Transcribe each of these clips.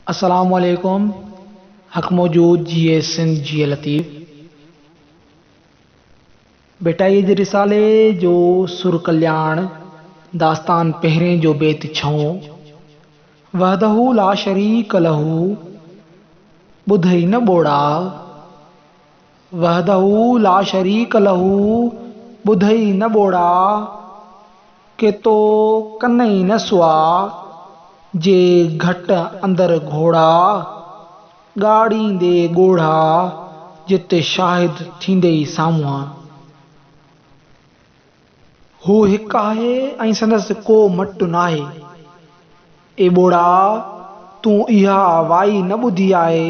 السلام عليڪم حق موجود جيئي سنڌ جيئي لطيف ڀٽائيء جي رسالي جو سر ڪلياڻ داستان پهرين جو بيت ڇهون وحده لا شريڪ له ٻڌئي نه ٻوڙا، وحده لا شريڪ له ٻڌئي نه ٻوڙا، ڪي تو ڪنئي نه سوا، جي گهٽ اندر گهوڙا، ڳاڙيندي ڳوڙها، جت شاهد ٿيندئي سامهون. هو هڪ آهي ۽ سندس ڪو مٽ ناهي. اي ٻوڙا! تون اها وائي نه ٻڌي آهي.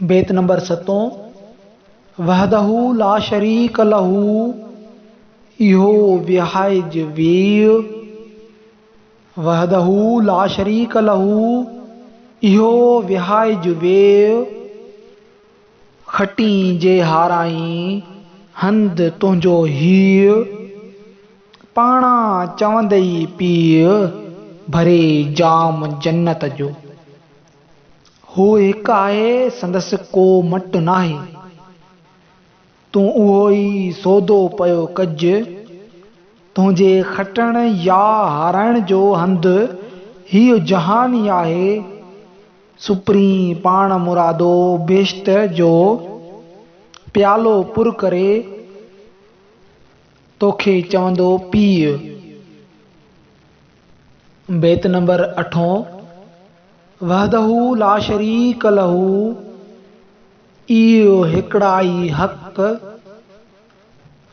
بيت نمبر ستون، وحده لا شريڪ له اهو وهائج ويء، وحده لا شريڪ له اهو وهائج ويء، کٽين جي هارائين هنڌ تنهنجو هيء، پاڻان چوندئي پيء ڀري جام جنت جو. هو هڪ آهي سندس ڪو مٽ ناهي. تون اهو ئي سودو پيو ڪج. تنهنجي کٽڻ يا هارائڻ جو هنڌ هيء جهان ئي آهي. سپرين پاڻ مرادو بهشت جو پيالو پر ڪري توکي چوندو پيء. بيت نمبر اٺون، وحده لا شريڪ له اي هڪڙائي حق،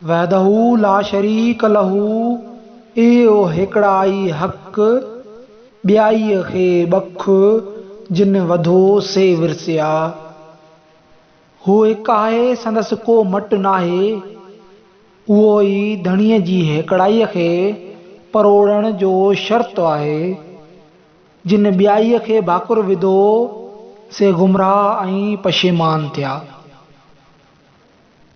وحده لا شريڪ له اي هڪڙائي حق، ٻيائي کي ٻک، جن وڌو سي ورسيا. هو هڪ آهي سندس ڪو مٽ ناهي. اهو ئي ڌڻيء جي هيڪڙائيء کي پروڙڻ جو شرط آهي. جن ٻيائيء کي ڀاڪر وڌو، سي گمراهه ۽ پشيمان ٿيا.